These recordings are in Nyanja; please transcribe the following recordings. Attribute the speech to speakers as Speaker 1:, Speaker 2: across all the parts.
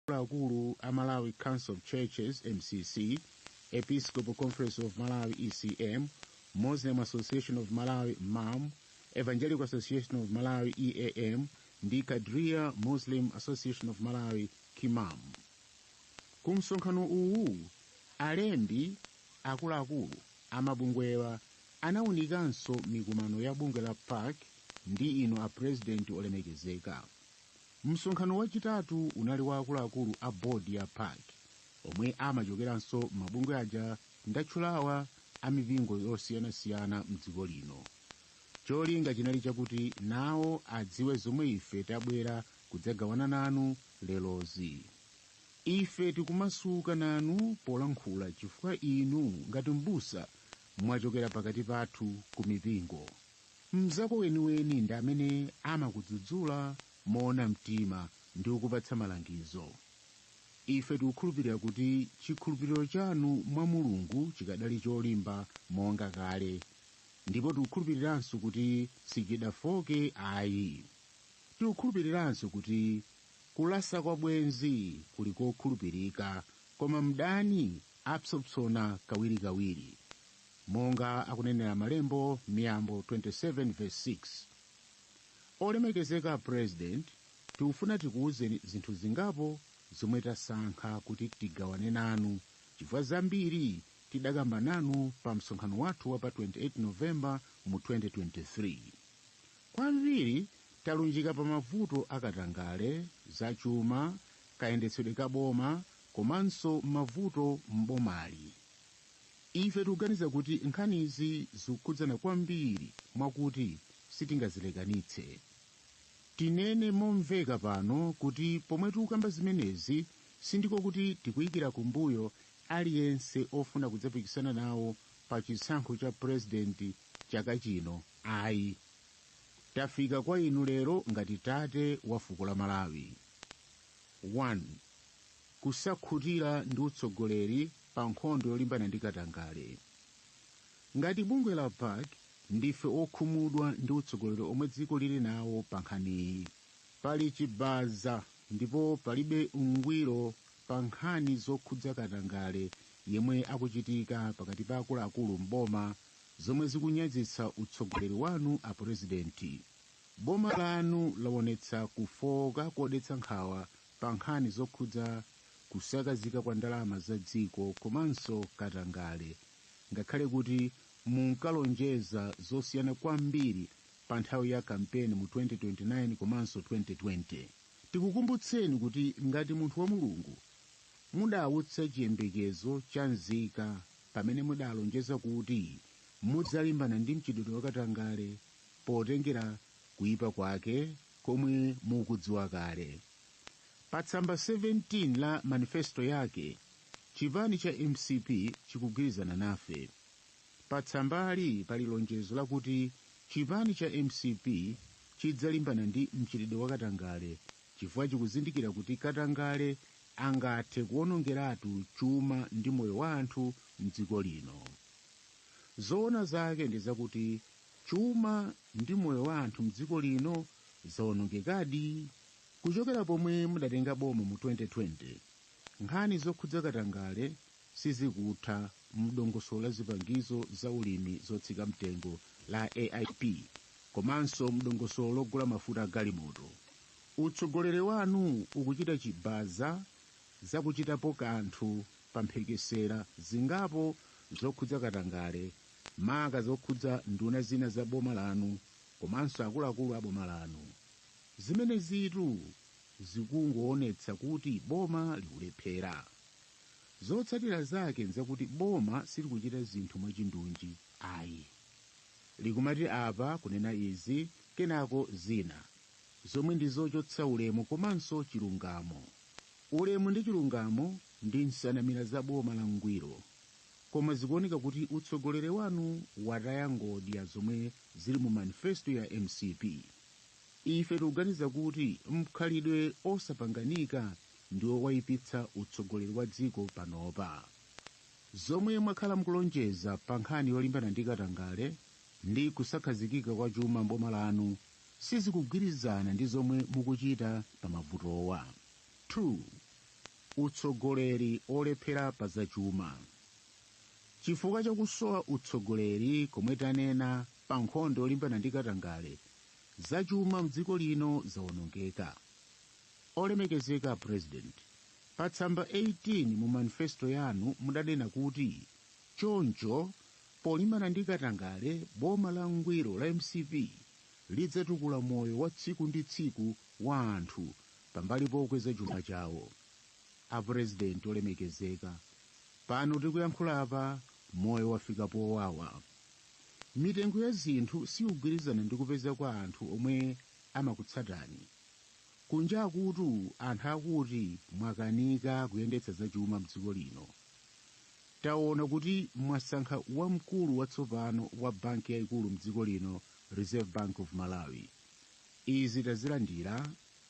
Speaker 1: akuluakulu a malawi council of churches mcc episcopal conference of malawi ecm muslim association of malawi mam evangelical association of malawi eam ndi qadria muslim association of malawi qmam ku msonkhano uwu alembi akuluakulu amabungwewa anawunikanso mikumano ya bungwe la pac ndi inu a purezidenti olemekezeka Msonkhano wachitatu unali wa akuluakulu a board ya PAC omwe amachokeranso m'mabungwe aja ndatchulawa a mipingo yosiyanasiyana m'dziko lino. Cholinga chinali chakuti nawo adziwe zomwe ife tabwera kudzagawana nanu lerozi. Ife tikumasuka nanu polankhula chifukwa inu ngati m'busa mwachokera pakati pathu ku mipingo. Mnzako weniweni ndi amene amakudzudzula moona mtima ndi kukupatsa malangizo. Ife tikukhulupirira kuti chikhulupiriro chanu mwa Mulungu chikadali cholimba monga kale, ndipo tikukhulupiriranso kuti sichidafooke ayi. Tikukhulupiriranso kuti kulasa kwa bwenzi kuli kokhulupirika, koma mdani apsopsona kawirikawiri. monga akunenera malembo miyambo 27 verse 6 olemekezeka president tikufuna tikuwuzeni zinthu zingapo zomwe tasankha kuti tigawane nanu chifukwa zambiri tidakamba nanu pa msonkhano wathu wa pa 28 novemba mu 2023 kwambiri talunjika pa mavuto akatangale zachuma kayendetsedwe ka boma komanso mavuto m'bomali Ife tikuganiza kuti nkhanizi zikukhudzana kwambiri mwakuti sitingazilekanitse. Tinene momveka pano kuti pomwe tikukamba zimenezi sindiko kuti tikuikira kumbuyo aliyense ofuna kudzapikisana nawo pa chisankho cha purezidenti chaka chino ayi. Tafika kwa inu lero ngati tate wa fuko la Malawi. 1. kusakhutira ndi utsogoleri pa nkhondo yolimbana ndi katangale ngati bungwe la pac ndife okhumudwa ndi utsogoleri omwe dziko lili nawo pa nkhaniyi pali chibaza ndipo palibe ungwiro pa nkhani zokhudza katangale yemwe akuchitika pakati pa akuluakulu mboma zomwe zikunyazitsa utsogoleri wanu a purezidenti boma lanu lawonetsa kufooka kodetsa nkhawa pa nkhani zokhudza kusakazika kwa ndalama za dziko komanso katangale ngakhale kuti munkalonjeza zosiyana kwambiri pa nthawi ya kampeni mu 2019 komanso 2020 tikukumbutseni kuti ngati munthu wa mulungu mudawutsa chiyembekezo cha nzika pamene mudalonjeza kuti mudzalimbana ndi mchitidwe wakatangale potengera kuyipa kwake komwe mukudziwa kale pa tsamba 17 la manifesto yake chipani cha mcp chikugwirizana nafe pa tsambali pali lonjezo lakuti chipani cha mcp chidzalimbana ndi mchitidwe wa katangale chifukwa chikuzindikira kuti katangale angathe kuwonongeratu chuma ndi moyo wa anthu mdziko lino zoona zake ndi zakuti Chuma ndi moyo wa anthu mdziko lino zaonongekadi kuchokera pomwe mudatenga boma mu 2020. Nkhani zokhudza katangale sizikutha mdongosolo la zipangizo za ulimi zotsika mtengo la AIP komanso mdongosolo logula mafuta a galimoto. Utsogoleri wanu ukuchita chibaza za kuchitapo kanthu pa mphekesera zingapo zokhudza katangale maka zokhudza nduna zina za boma lanu komanso akuluakulu a boma lanu zimenezitu zikungoonetsa kuti boma likulephera zotsatira zake nzakuti boma silikuchita zinthu mwachindunji ayi likumati apa kunena izi kenako zina zomwe ndi zochotsa ulemu komanso chilungamo ulemu ndi chilungamo ndi nsanamira za boma langwiro koma zikuoneka kuti utsogoleri wanu wataya ngodya zomwe zili mu manifesto ya mcp ife tikuganiza kuti mkhalidwe osapanganikawu ndiwo wayipitsa utsogoleri wa dziko panopa zomwe mwakhala mukulonjeza pa nkhani yolimbana ndi katangale ndi kusakazika kwa chuma mboma lanu sizikugwirizana ndi zomwe mukuchita pa mavutowa 2 Utsogoleri olephera pa zachuma. Chifukwa cha kusowa utsogoleri komwe tanena pa nkhondo yolimbana ndi katangale, zachuma mdziko lino zawonongeka. Olemekezeka a President, pa tsamba 18 mu manifesto yanu mudanena kuti choncho polimbana ndi katangale boma la ngwiro la mcp lidzatukula moyo wa tsiku ndi tsiku wa anthu pambali pokweza chuma chawo a purezidenti olemekezeka pano tikuyankhula apa moyo wafika powawa mitengo ya zinthu sikugwirizana ndi kupeza kwa anthu omwe amakutsatani kunja akutu anthu akuti mwakanika kuyendetsa zachuma mdziko lino taona kuti mwasankha wamkulu watsopano wa banki yayikulu mdziko lino reserve bank of malawi izi tazilandira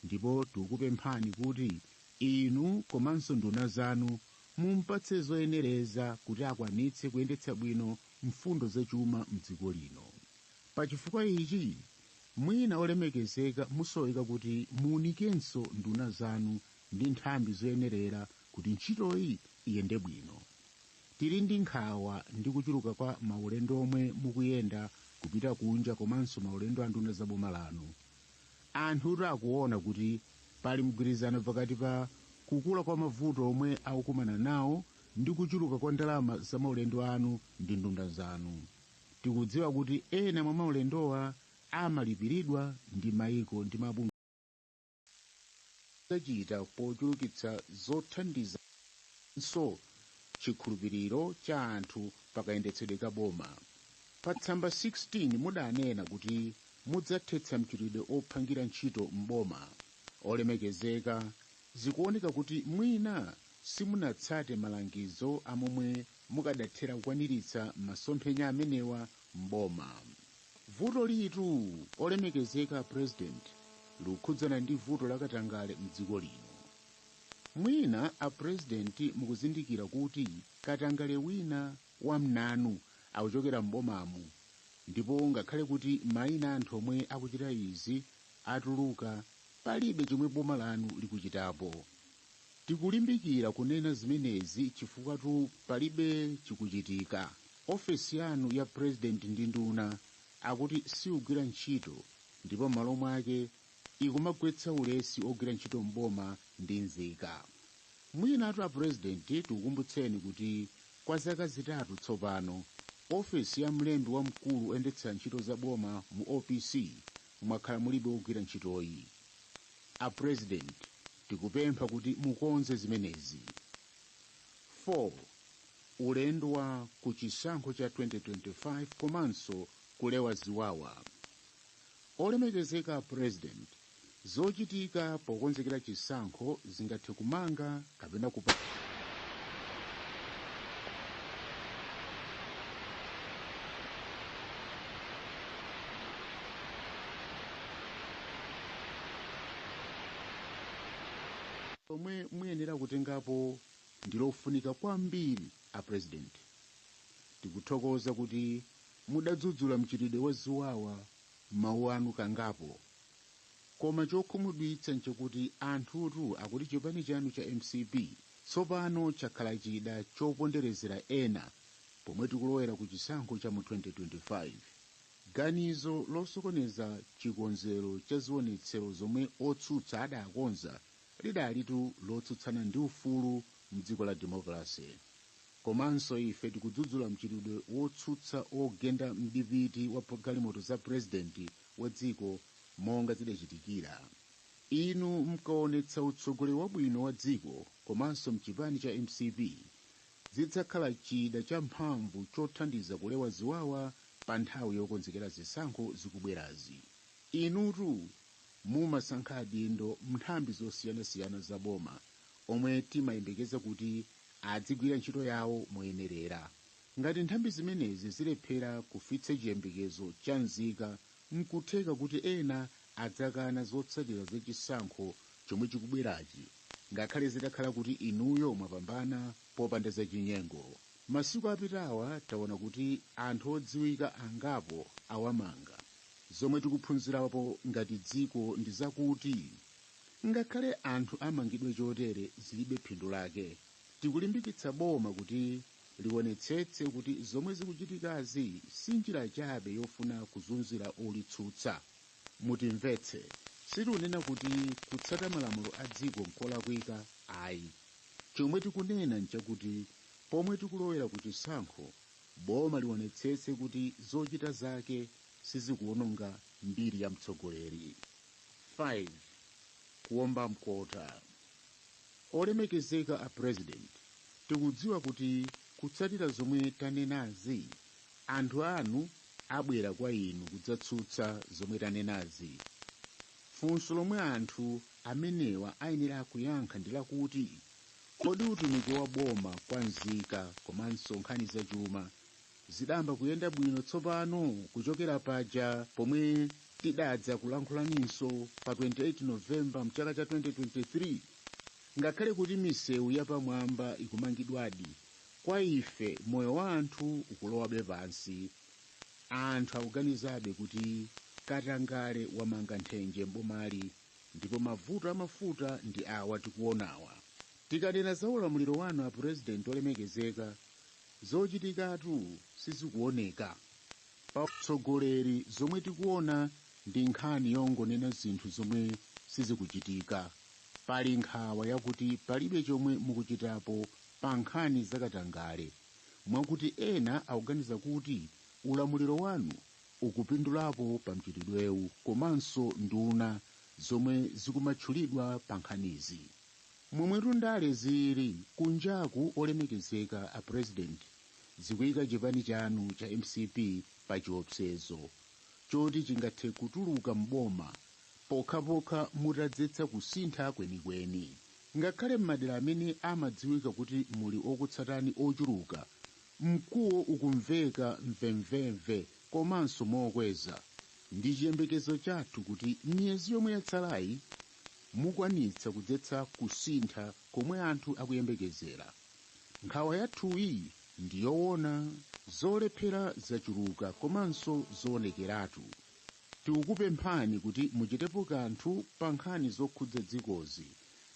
Speaker 1: ndipo tikupemphani kuti inu komanso nduna zanu mumpatse zoyenereza kuti akwanitse kuyendetsa bwino mfundo zachuma mdziko lino pa chifukwa ichi mwina olemekezeka musoweka kuti muunikenso nduna zanu ndi nthambi zoyenerera kuti ntchitoyi iyende bwino tili ndi nkhawa ndi kuchuluka kwa maulendo omwe mukuyenda kupita kunja komanso maulendo a nduna za boma lanu anthutu akuona kuti pali mgwirizano pakati pa kukula kwa mavuto omwe akukumana nawo ndi kuchuluka kwa ndalama za maulendo anu ndi nduna zanu tikudziwa kuti ena mwa maulendowa amalipiridwa ndi maiko ndi mabungwe zachita pochulukitsa zothandizanso chikhulupiriro cha anthu pakayendetsedwe ka boma pa tsamba 16 mudanena kuti mudzathetsa mchitidwe ophangira ntchito m'boma. Olemekezeka, zikuoneka kuti mwina simunatsate malangizo a momwe mukadathera kukwaniritsa masomphenya amenewa m'boma. Vuto ilitu, olemekezeka a President, likukhudzana ndi vuto la katangale mdziko lino. Mwina a President mukuzindikira kuti katangale wina wamnanu akuchokera m'bomamu ndipo ngakhale kuti maina a anthu omwe akuchita izi atuluka palibe chomwe boma lanu likuchitapo tikulimbikira kunena zimenezi chifukwatu palibe chikuchitika ofesi yanu ya president ndi nduna akuti sikugwira ntchito ndipo m'malo mwake ikumagwetsa ulesi ogwira ntchito m'boma ndi nzika. Mwinatu a President tikukumbutseni kuti kwa zaka zitatu tsopano, ofesi ya mlembi wamkulu oyendetsera ntchito za boma mu OPC mwakhala mulibe ogwira ntchitoyi. A President tikupempha kuti mukonze zimenezi. 4, Ulendo wa ku chisankho cha 2025 komanso kulewa ziwawa. Olemekezeka a President, zochitika pokonzekera chisankho zingathe kumanga kapena kupa. lomwe muyenera kutengapo ndi lofunika kwambiri a president tikuthokoza kuti Mudadzudzula mchitidwe wa ziwawa m'mawu anu kangapo. Koma chokhumudwitsa nchakuti anthutu akuti chipani chanu cha mcp tsopano chakhala chida choponderezera ena pomwe tikulowera ku chisankho cha mu 2025. Ganizo losokoneza chikonzero cha zionetsero zomwe otsutsa adakonza lidalitu lotsutsana ndi ufulu m'dziko la demokalase. Komanso ife tikudzudzula mchitidwe wa otsutsa wogenda mdipiti wa galimoto za pulezidenti wa dziko monga zidachitikira. Inu mkaonetsa utsogoleri wabwino wa dziko komanso mchipani cha mcp zidzakhala chida cha mphamvu chothandiza kulewa ziwawa pa nthawi yokonzekera zisankho zikubwerazi. Inutu mumasankha adindo m'nthambi zosiyanasiyana za boma omwe timayembekeza kuti adzigwira ntchito yawo moyenerera ngati nthambi zimenezi zilephera kufitsa chiyembekezo cha nzika nkutheka kuti ena adzakana zotsatira za chisankho chomwe chikubwerachi ngakhale zitakhala kuti inuyo mwapambana popanda zachinyengo masiku apitawa taona kuti anthu odziwika angapo awamanga zomwe tikuphunzirapo ngati dziko ndi zakuti ngakhale anthu amangidwe chotere zilibe phindu lake tikulimbikitsa boma kuti lionetsetse kuti zomwe zikuchitikazi si njira chabe yofuna kuzunzira olitsutsa mutimvetse sitikunena kuti kutsata malamulo a dziko nkolakwika ayi chomwe tikunena nchakuti pomwe tikulowera ku chisankho boma lionetsetse kuti zochita zake sizikuwononga mbiri ya mtsogoleri 5 kuwomba mkota olemekezeka a president tikudziwa kuti kutsatira zomwe tanenazi anthu anu abwera kwa inu kudzatsutsa zomwe tanenazi funso lomwe anthu amenewa ayenera kuyankha ndi lakuti kodi utumiki wa boma kwa nzika komanso nkhani zachuma zidayamba kuyenda bwino tsopano kuchokera paja pomwe tidadza kulankhulaninso pa 28 novemba mchaka cha 2023 ngakhale kuti misewu yapamwamba ikumangidwadi kwa ife moyo wa anthu ukulowabe pansi anthu akuganizabe kuti katangale wamanga nthenje mbomali ndipo mavuto amafuta ndi awa tikuonawa tikanena za ulamuliro wanu a purezidenti olemekezeka zochitikatu sizikuoneka pa utsogoleri zomwe tikuona ndi nkhani yongonena zinthu zomwe sizikuchitika pali nkhawa yakuti palibe chomwe mukuchitapo pa nkhani zakatangale mwakuti ena akuganiza kuti ulamuliro wanu ukupindulapo pa mchitidwewu komanso nduna zomwe zikumatchulidwa pa nkhanizi Momwetu ndale zili kunjaku olemekezeka a purezidenti zikuika chipani chanu cha mcp pa chiopsezo choti chingathe kutuluka m'boma pokhapokha mutadzetsa kusintha kwenikweni. Ngakhale m'madera amene amadziwika kuti muli okutsatani ochuluka, mkuwo ukumveka mvemvemve komanso mokweza. Ndi chiyembekezo chathu kuti miyezi yomwe yatsalayi mukwanitsa kudzetsa kusintha komwe anthu akuyembekezera. Nkhawa yathuyi ndi yoona, zolephera zachuluka komanso zoonekeratu. Tikukupemphani kuti muchitepo kanthu pa nkhani zokhudza dzikozi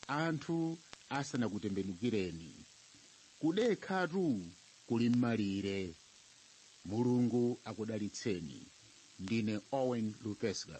Speaker 1: anthu asanakutembenukireni. Kudekhatu kuli n'malire. Mulungu akudalitseni. Ndine Owen Lupeska.